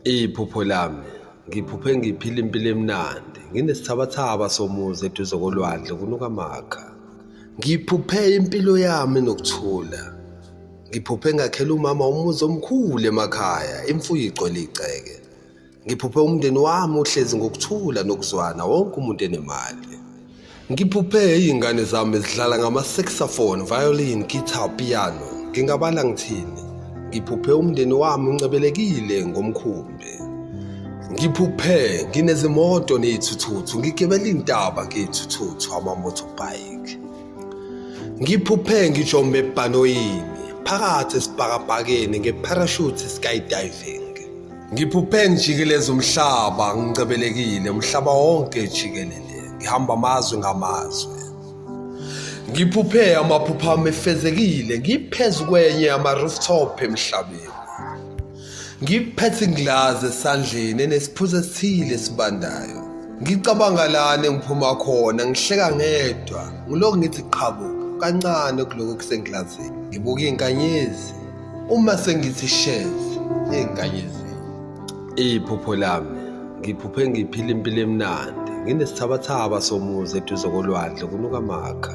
Iphupho lami ngiphuphe ngiphila impilo emnandi nginesithabathaba somuzi eduze kolwandle kunuka amakha ngiphuphe impilo yami nokuthula ngiphuphe ngakhela umama umuzi omkhulu emakhaya imfuyo igcwele igceke Ngiphuphe umndeni wami uhlezi ngokuthula nokuzwana wonke umuntu enemali. Ngiphuphe izingane zami zidlala ngama saxophone, violin, guitar, piano. Ngingabala ngithini? Ngiphuphe umndeni wami uncebelekile ngomkhumbi. Ngiphuphe nginezimoto nezithuthu, ngigebela intaba ngezithuthu ama motorbike. Ngiphuphe ngijombe ebhanoyini phakathi esibhakabhakeni ngeparachute skydiving. Ngiphuphe ngijikeleza umhlaba ngicebelekile umhlaba wonke jikelele ngihamba amazwe ngamazwe ngiphuphe amaphupha ami efezekile ngiphezu kwenye ama-rooftop emhlabeni ngiphethe ingilazi esandleni enesiphuzo esithile esibandayo ngicabanga lani engiphuma khona ngihleka ngedwa ngilokhu ngithi qhabo kancane kuloko kusengilazini ngibuka iy'nkanyezi uma sengithi shezi ey'nganye zethu iphupho lami ngiphuphe ngiphila impilo emnandi nginesithabathaba somuzi eduze kolwandle kunuka amakha